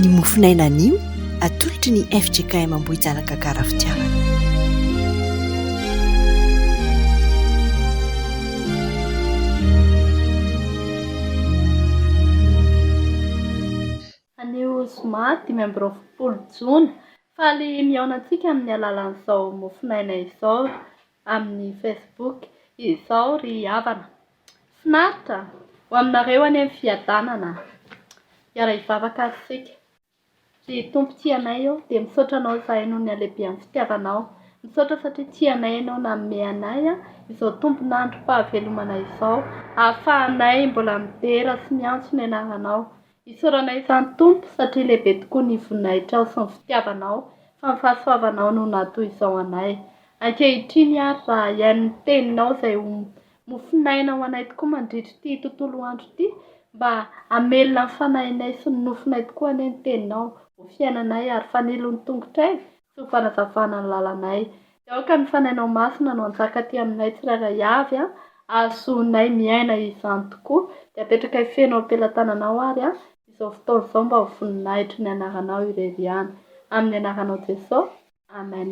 Ny mofon'aina anio atolotry ny fjkm Ambohijanaka Karafitiavana. Anio zoma dimy amby roapolo jona, faly mihaona antsika amin'ny alalan'izao mofon'aina izao amin'ny Facebook izao ry havana. Finaritra ho aminareo anie ny fiadanana a! Hiara hivavaka ary isika. Ry Tompo tia anay ô, dia misaotra Anao izahay noho ny halehibehan'ny fitiavanao. Misaotra satria tia anay Ianao nanome anay izao tombon'androm-pahavelomanay izao, ahafahanay mbola midera sy miantso ny Anaranao. Isaoranay izany Tompo satria lehibe tokoa ny voninahitrao sy ny fitiavanao, fa ny fahasoavanao no naha toy izao anay. Ankehitriny ary raha hihaino ny Teninao izay ho Mofonaina ho anay tokoa mandritra ity tontolo andro ity mba hamelona ny fanahinay sy ny nofinay tokoa anie ny teninao ho fiainanay ary fanilo ny tongotray sy ho fanazavana ny lalanay dia aoka ny fanahinao masina no hanjaka aty aminay tsirairay avy an ahazoanay miaina izany tokoa dia apetrakay feno ampelatananao ary an izao fotoana izao mba ho voninahitry ny anaranao irery ihany amin'ny anaranao Jesosy Amen.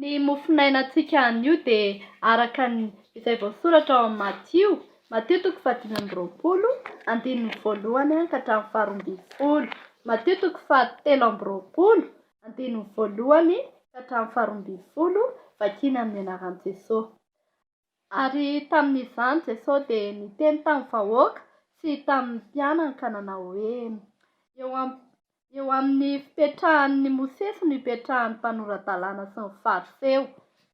Ny mofonainantsika anio dia araka ny izay voasoratra ao amin'i Matio, Matio toko fahadimy amby roapolo, andininy voalohany ka hatramin'ny faharoa ambin'ny folo, Matio toko fahatelo amby roapolo, andininy voalohany ka hatramin'ny faharoa ambin'ny folo, vakina amin'ny anaran'i Jesoa. Ary tamin'izany Jesosy dia niteny tamin'ny vahoaka sy tamin'ny mpianankanana hoe, Eo am, eo amin'ny fipetrahan'ny Mosesy no ipetrahan'ny mpanora-dalàna sy ny Fariseo.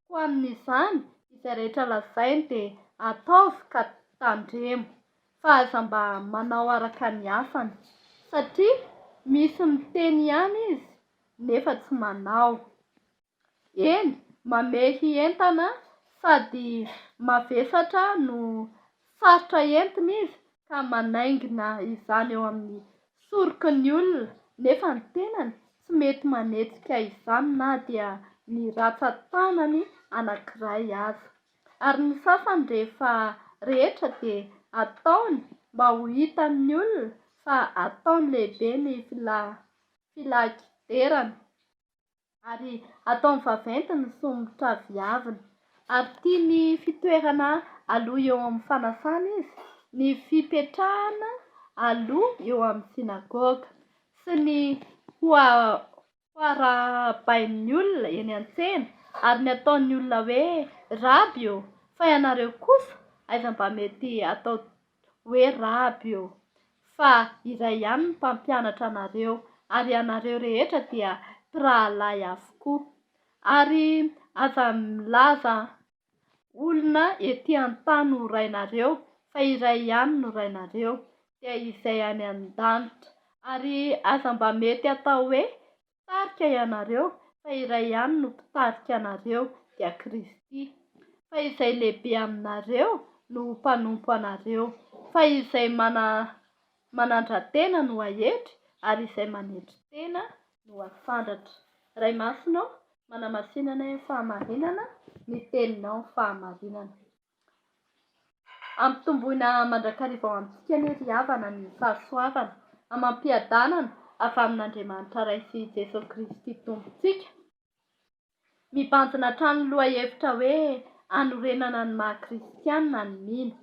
Koa amin'izany, izay rehetra lazainy dia ataovy ka tandremo, fa aza mba manao araka ny asany. Satria misy miteny ihany izy, nefa tsy manao. Eny, mamehy entana sady mavesatra no sarotra entina izy ka manaingina izany eo amin'ny soroky ny olona nefa ny tenany tsy mety manetsika izany na dia ny ratsan-tanany anankiray aza. Ary ny sasany rehefa rehetra dia ataony mba ho hitan'ny olona fa ataony lehibe ny filaha-kiderana. Ary ataony vaventy ny somotra viaviny. Ary tia ny fitoerana aloha eo amin'ny fanasana izy, ny fipetrahana aloha eo amin'ny synagoga, sy ny hoarahabain'ny olona eny an-tsena, ary ny ataon'ny olona hoe, Raby ô, fa ianareo kosa, aiza mba mety atao hoe Raby io, fa iray ihany ny mpampianatra anareo, ary ianareo rehetra dia mpirahalahy avokoa. Ary aza milaza olona ety an-tany ho rainareo, fa iray ihany no Rainareo, dia Izay any an-danitra. Ary aza mba mety atao hoe Mpitarika ianareo, fa iray ihany no Mpitarika anareo, dia Kristy. Fa izay lehibe aminareo no ho mpanompo anareo. Fa izay manandra-tena no hahetry, ary izay manetry tena no hasandratra. Ray Masina ô, manamasina anay amin'ny fahamarinana, ny Teninao fahamarinana. Ampitomboina mandrakariva ho antsika anie ry havana ny fahasoavana amam-piadanana avy amin'Andriamanitra Ray sy i Jesoa Kristy Tompontsika. Mibanjina hatrany ny lohahevitra hoe hanorenana ny maha kristiana ny mino.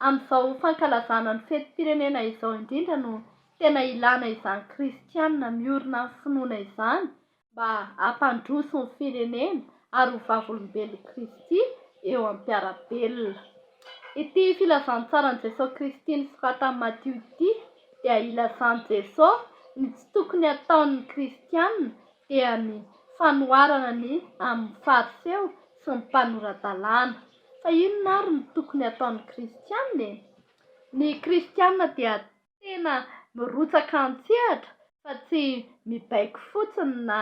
Amin'izao fankalazana ny fetim-pirenena izao indrindra no tena ilana izany kristiana miorina amin'ny finoana izany mba hampandroso ny firenena ary ho vavolombelon'i Kristy eo am-piara-belona. Ity filazantsaran'i Jesoa Kristy nosoratan'i Matio ity dia ilazan'i Jesoa ny tsy tokony hataon'ny kristiana dia ny fanoharana ny amin'ny Fariseo sy ny mpanora-dalàna. Fa inona ary no tokony hataon'ny kristiana e? Ny kristiana dia tena mirotsaka an-tsehatra fa tsy mibaiko fotsiny na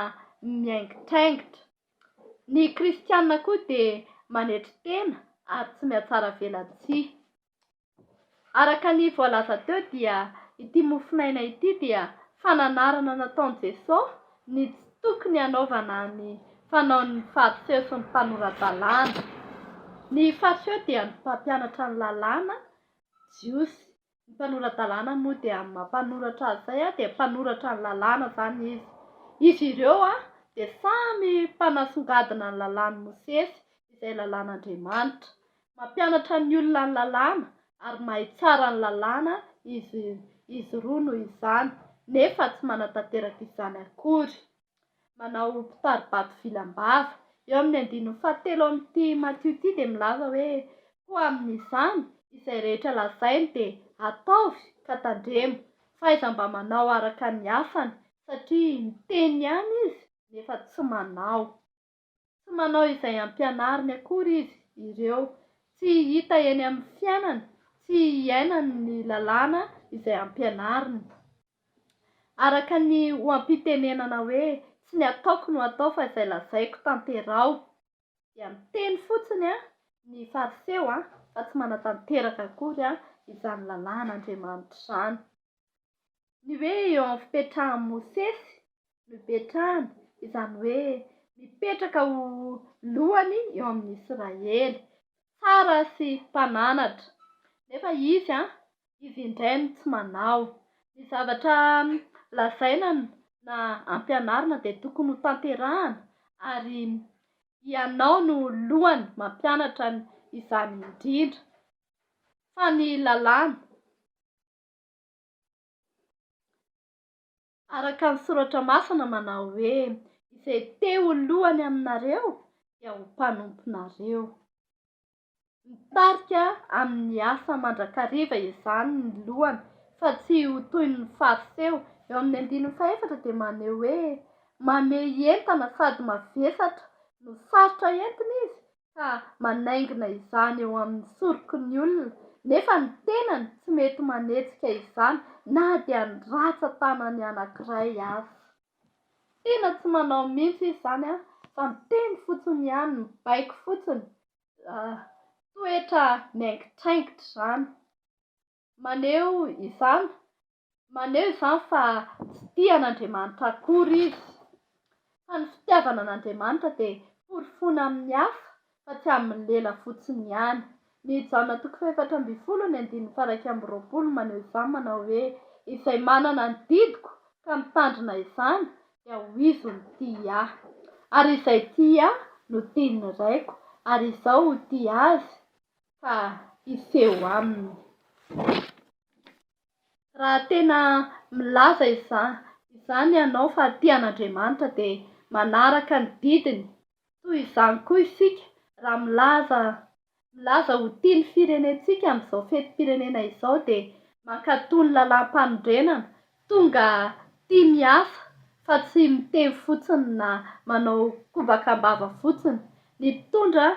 miaingitraingitra. Ny Kristianina koa dia manetry tena ary tsy mihatsaravelatsihy. Araka ny voalaza teo dia ity mofonaina ity dia fananarana nataon'i Jesoa ny tsy tokony hanaovana ny fanaon'ny Fariseo sy ny mpanora-dalàna. Ny Fariseo dia ny mpampianatra ny Lalàna jiosy Ny mpanora-dalàna moa dia amin'ny maha mpanoratra azy izay dia mpanoratra ny lalàna izany izy. Izy ireo dia samy mpanasongadina ny lalàn'i Mosesy, izay lalàn'Andriamanitra. Mampianatra ny olona ny lalàna ary mahay tsara ny lalàna izy izy roa noho izany, nefa tsy manatanteraka izany akory. Manao mpitari-bato vily am-bava. Eo amin'ny andininy fahatelo ao amin'ity Matio ity dia milaza hoe, Koa amin'izany, izay rehetra lazainy dia ataovy, ka tandremo, fa iza mba manao araka ny asany, satria miteny ihany izy, nefa tsy manao. tsy manao izay ampianariny akory izy ireo, tsy hita eny amin'ny fiainany, tsy iainany ny lalàna izay ampianariny. Araka ny oha-pitenenana hoe tsy ny ataoko no atao fa izay lazaiko tanteraho, dia miteny fotsiny ny Fariseo fa tsy manatanteraka akory izany lalàn'Andriamanitra izany. Ny hoe eo amin'ny fipetrahan'i Mosesy no ipetrahany, izany hoe mipetraka ho lohany eo amin'ny Israely, mpitsara sy mpananatra. Nefa izy, izy indray no tsy manao. Ny zavatra lazaina na ampianarina dia tokony ho tanterahana ary ianao no lohany mampianatra izany indrindra fa ny lalàna. Araka ny Soratra Masina manao hoe, Izay te ho lohany aminareo dia ho mpanomponareo. Mitarika amin'ny asa mandrakariva izany ny lohany fa tsy ho toy ny Fariseo. Eo amin'ny andininy fahefatra dia maneho hoe, Mamehy entana sady mavesatra no sarotra entina izy, ka manaingina izany eo amin'ny soroky ny olona nefa ny tenany tsy mety manetsika izany na dia ny ratsan-tanany anankiray aza. Tena tsy manao mihitsy izy izany an, fa miteny fotsiny ihany, mibaiko fotsiny, toetra miaingitraingitra izany. Maneho izany, maneho izany fa tsy tia an'Andriamanitra akory izy. Fa ny fitiavana an'Andriamanitra dia porofoina amin'ny asa fa tsy amin'ny lela fotsiny ihany. Ny Jaona toko fahefatra ambin'ny folo ny andininy faha-iraika amby roapolo maneho izany manao hoe, Izay manana ny didiko ka mitandrina izany dia ho izy no tia ahy. Ary izay tia ahy no tian'ny Raiko, ary izaho ho tia azy, fa hiseho aminy. Raha tena milaza izany ianao fa tia an'Andriamanitra dia manaraka ny didiny. Toy izany koa isika raha milaza milaza ho tia ny firenentsika amin'izao fetim-pirenena izao dia mankatò ny lalàm-panorenana Tonga tia miasa fa tsy mitevy fotsiny na manao kobaka am-bava fotsiny. Ny mpitondra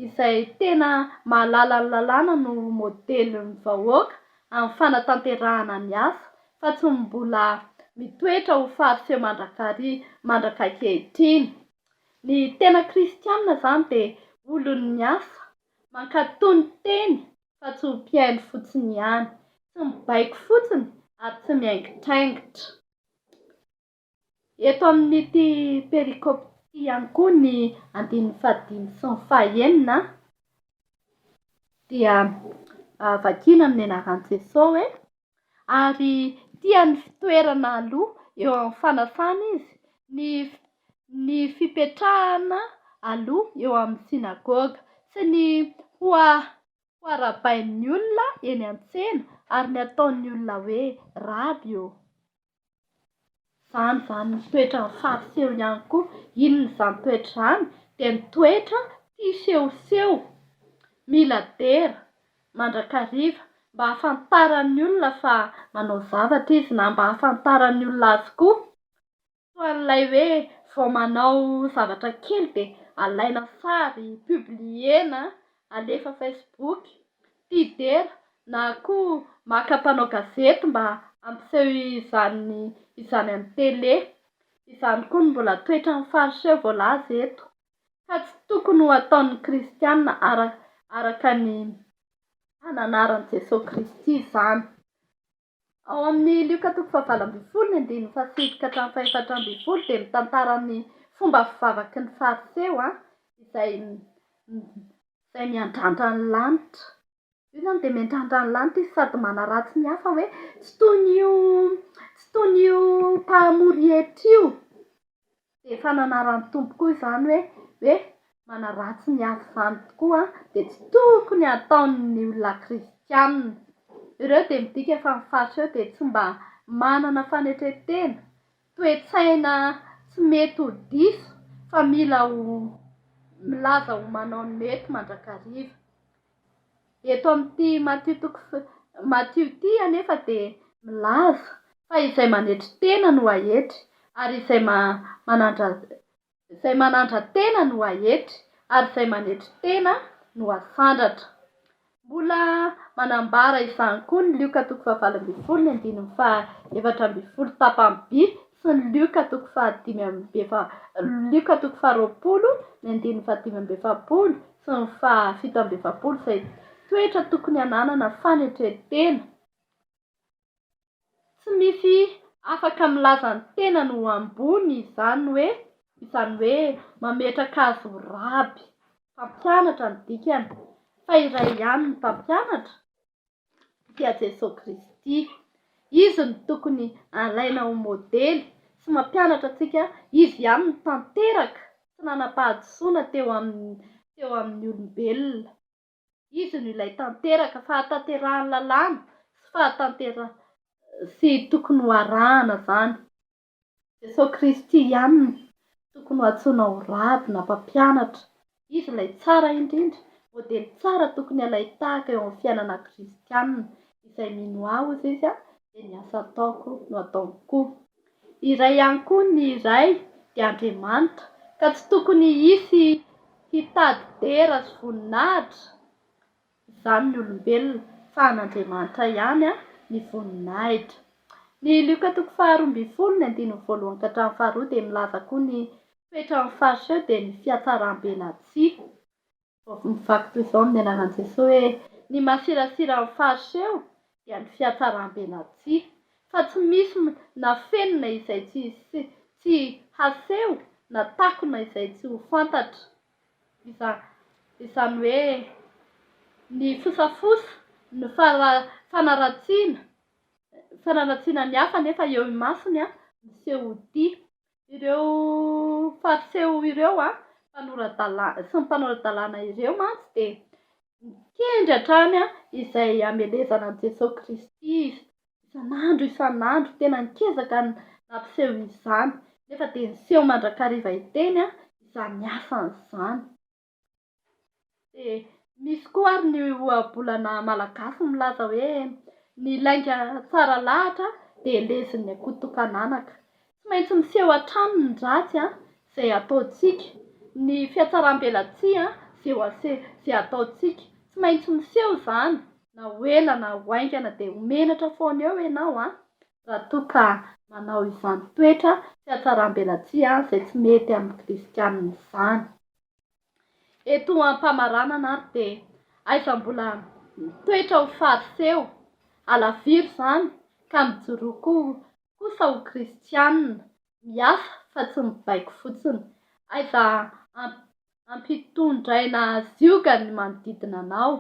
izay tena mahalala ny lalàna no modelin'ny vahoaka amin'ny fanatanterahana ny asa fa tsy ny mbola mitoetra ho fariseo mandrakariva mandraka ankehitriny. Ny tena kristianina izany dia olon'ny asa, mankatò ny teny fa tsy ho mpihaino fotsiny ihany, tsy mibaiko fotsiny ary tsy miaingitraingitra. Eto amin'ity perikopy ity ihany koa ny andininy fahadimy sy ny fahenina dia vakina amin'ny anaran'i Jesoa hoe. Ary tia ny fitoerana aloha eo amin'ny fanasana izy, ny, ny fipetrahana aloha eo amin'ny synagoga, sy ny ho, ho arahabain'ny olona eny an-tsena, ary ny ataon'ny olona hoe, Raby ô! Izany izany ny toetran'ny fariseho ihany koa. Inona izany toetra izany? Dia ny toetra tia sehoseho, mila dera mandrakariva mba hahafantaran'ny olona fa manao zavatra izy na mba hahafantaran'ny olona azy koa. Toa an'ilay hoe vao manao zavatra kely dia alaina sary, publier-na, alefa Facebook. Mpifidy dera na koa maka mpanao gazety mba hampiseho izany izany amin'ny tele. Izany koa no mbola toetran'ny Fariseo voalaza eto, ka tsy tokony ho ataon'ny Kristiana araka ny ananaran'i Jesoa Kristy izany. Ao amin'ny Lioka toko fahavalo ambin'ny folo, ny andininy fahasivy ka hatramin'ny fahefatra ambin'ny folo dia mitantara ny fomba fivavaky ny Fariseo izay izay miandrandra ny lanitra. Io izany dia miandrandra ny lanitra izy sady manaratsy ny hafa hoe tsy toy ny io tsy toy ny io mpahamory hetra io. Dia efa nanaran'ny Tompo koa izany hoe, hoe manaratsy ny azy izany tokoa dia tsy tokony hataon'ny olona kristianina. Ireo dia midika fa ny faritra eo dia tsy mba manana fanetren-tena, toe-tsaina tsy mety ho diso fa mila ho milaza ho manao ny mety mandrakariva. Eto amin'ity Matio toko f Matio ity anefa dia milaza fa izay manetry tena no haetry ary izay ma manandra izay manandra tena no haetry ary izay manetry tena no hasandratra. Mbola manambara izany koa ny Lioka toko fahavalo ambin'ny folo ny andininy faha efatra ambin'ny folo tapany by Sy ny Lioka toko fahadimy amby efa Lioka toko faharoapolo ny andininy fahadimy amby efapolo sy ny fahafito amby efapolo izay toetra tokony hananana fanetren-tena tsy misy afaka milaza ny tenany ho ambony izany hoe izany hoe mametraka azy ho raby mpampianatra ny dikany fa iray ihany ny mpampianatra dia Jesoa Kristy. Izy no tokony alaina ho modely sy mampianatra antsika, Izy ihany no tanteraka sy nanam-pahadisoana teo amin'ny olombelona. Izy no ilay tanteraka, fahatanterahan'ny lalàna sy tokony ho arahana izany. Jesosy Kristy ihany no tokony ho antsoina ho raby na mpampianatra. Izy ilay tsara indrindra, modely tsara tokony halain-tahaka eo amin'ny fiainana kristiana. Izay mino Ahy, hozy Izy, dia ny asa ataoko no hataony koa. Iray ihany koa ny Ray, dia Andriamanitra, ka tsy tokony hisy hitady dera sy voninahitra. izany ny olombelona fa an'Andriamanitra ihany ny voninahitra. Ny Lioka toko faharoa ambin'ny folo ny andininy voalohany ka hatramin'ny faharoa dia milaza koa ny toetra amin'ny Fariseo dia ny fihatsaram-be na tsia. Mivaky toy izao amin'ny anaran'i Jesoa hoe ny masirasira amin'ny Fariseo dia ny fihatsaram-be na tsia fa tsy misy na feno na izay tsy haseho na takona izay tsy ho fantatra izany. Izany hoe ny fosafosa, ny fanaratsiana, fanaratsiana ny hafa nefa eo imasony ny sehotia. Ireo Fariseo ireo mpanora-dalàna sy ny mpanora-dalàna ireo mantsy dia nikendry hatrany izay hamelezana an'i Jesoa Kristy izy Isan'andro isan'andro, tena nikezaka ny nampiseho izany, nefa dia niseho mandrakariva hiteny izany asany izany. Dia misy koa ary ny ohabolana malagasy milaza hoe, ny lainga tsara lahatra dia lezin'ny akoto tokan'anaka. Tsy maintsy miseho hatrany ny ratsy izay ataontsika, ny fihatsaram-belatsihy izay ataontsika. Tsy maintsy miseho izany na ho ela na ho haingana dia ho menatra foana eo ianao raha toa ka manao izany toetra sy hatsaram-belatsihy izay tsy mety amin'ny kristianina izany. Eto am-pamaranana ary dia aiza mbola mitoetra ho fariseo, halaviro izany ka mijoroa koa kosa ho kristianina, miasa fa tsy mibaiko fotsiny. Aiza ampitondraina zioga ny manodidina anao.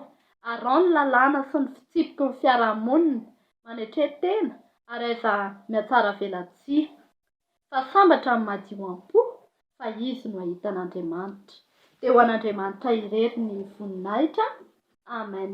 Araho ny lalàna sy ny fitsipiky ny fiarahamonina, manetre tena, ary aiza mihatsaravelatsihy. Fa sambatra ny madio am-po, fa izy no hahita an'Andriamanitra. Dia ho an'Andriamanitra irery ny voninahitra. Amen.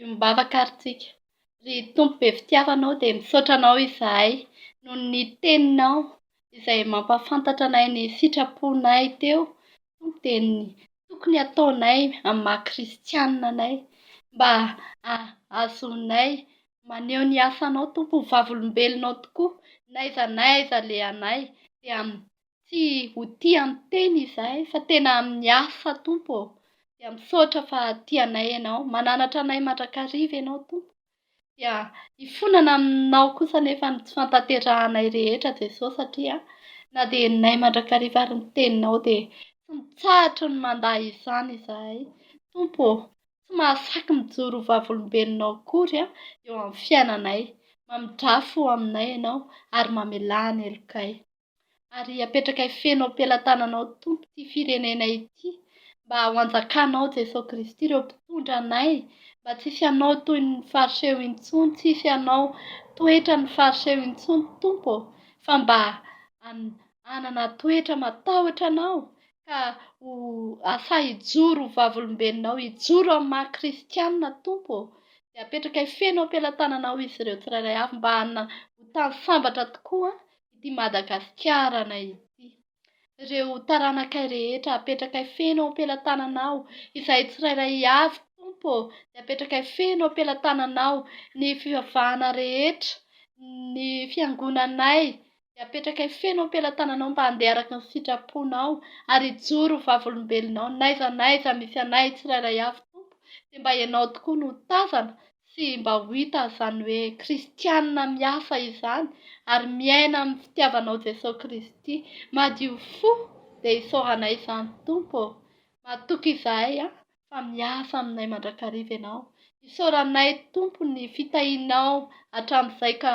Iombavaka ary tsika. Ry Tompo be fitiavana ô dia misaotra Anao izahay noho ny Teninao izay mampahafantatra anay ny sitraponay teo Tompo dia ny tokony hataonay amin'ny maha kristianina anay mba hahazoanay maneho ny asanao Tompo ho vavolombelonao tokoa n'aiza n'aiza alehanay dia tsy ho tia ny tena izahay fa tena amin'ny hafa Tompo ô, dia misaotra fa tia anay Ianao, mananatra anay mandrakariva Ianao Tompo, dia hifonana aminao kosa anefa ny tsy fantanterahanay rehetra Jesosy satria na dia henonay mandrakariva ary ny teninao dia tsy mitsahatra ny mandà izany izahay Tompo ô, tsy mahasaky mijoro ho vavolombelonao akory eo amin'ny fiainanay, mamidrafo ho aminay Ianao ary mamelà ny helokay. Ary apetrakay feno am-pelatananao Tompo ity firenena ity mba ho anjakanao Jesoa Kristy ireo mpitondra anay mba tsisy hanao toy ny fariseo intsony tsisy hanao toetra ny fariseo intsony Tompo ô fa mba hanana toetra matahotra anao ka ho asahy hijoro ho vavolombelonao hijoro amin'ny maha kristianina Tompo ô dia apetrakay feno am-pelatananao izy ireo tsirairay avy mba hanana ho tany sambatra tokoa ity Madagasikarana ity. Reo taranakay rehetra apetrakay feno eo ampelatananao, izahay tsirairay avy Tompo ô dia apetrakay feno eo ampelatananao, ny fivavahana rehetra, ny fiangonanay dia apetrakay feno eo ampelatananao mba handeha araka ny sitraponao ary hijoro ho vavolombelonao n'aiza n'aiza misy anay tsirairay avy Tompo dia mba ianao tokoa no tazana Tsy mba ho hita izany hoe kristianina mihafa izany ary miaina amin'ny fitiavanao Jesosy Kristy. Madio fo dia isaoranay izany Tompo ô. Matoky izahay an fa miasa aminay mandrakariva Ianao. Isaoranay Tompo ny fitahianao hatramin'izay ka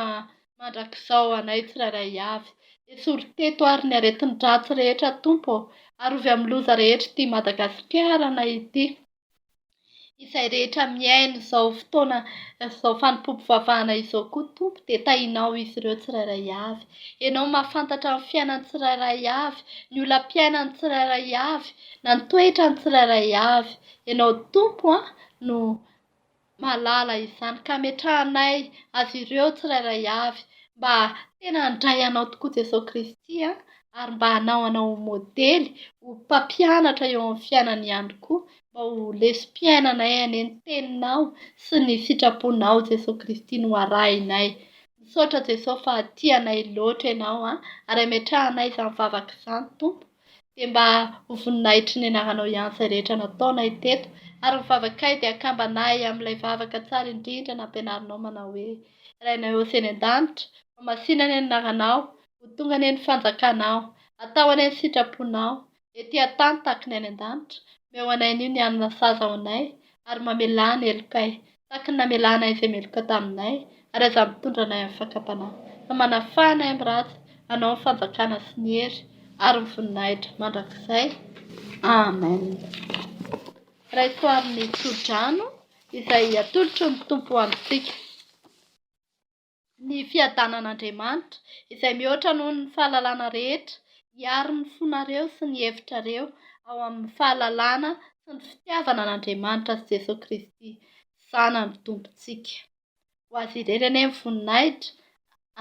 mandrakizao anay tsirairay avy. Esory teto ary ny aretin-dratsy rehetra Tompo ô. Arovy amin'ny loza rehetra ity Madagasikara anay ity. Izay rehetra mihaino izao fotoana izao fanompoam-pivavahana izao koa, Tompo, dia tahinao izy ireo tsirairay avy. Ianao mahafantatra ny fiainan'ny tsirairay avy, ny olam-piainan'ny tsirairay avy, na ny toetran'ny tsirairay avy. Ianao Tompo no mahalala izany ka ametrahanay azy ireo tsirairay avy mba tena handray anao tokoa Jesosy Kristy an, ary mba hanao anao ho modely, ho mpampianatra eo amin'ny fiainany ihany koa mba ho lesom-piainanay anie ny teninao sy ny sitraponao Jesosy Kristy no arahinay. Misaotra Jesosy fa tia anay loatra ianao an, ary ametrahanay izany vavaka izany Tompo. dia mba ho voninahitry ny anaranao ihany izay rehetra nataonay teto, ary ny vavakay dia akambanay amin'ilay vavaka tsara indrindra nampianarinao manao hoe, Rainay Ose eny an-danitra, homasinany ny anaranao, ho tonga anie ny fanjakanao, atao anie ny sitraponao, ety an-tany tahaka ny any an-danitra, omeo anay anio ny hanina saza ho anay, ary mamelà ny helokay. Tahaky ny namelanay izay meloka taminay, ary aza mitondra anay amin'ny fakam-panahy, fa manafaha anay amin'ny ratsy, anao ny fanjakana sy ny hery ary ny voninahitra mandrakizay. Amen. Raiso amin'ny tso-drano izay atolotry ny Tompo ho antsika. ny fiadanan'Andriamanitra, izay mihoatra noho ny fahalalana rehetra, hiaro ny fonareo sy ny hevitrareo ao amin'ny fahalalana sy ny fitiavana an'Andriamanitra sy Jesoa Kristy, Zanany Tompontsika. Ho Azy irery anie ny voninahitra,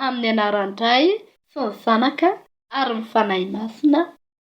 amin'ny anaran-dRay sy ny Zanaka ary ny Fanahy Masina.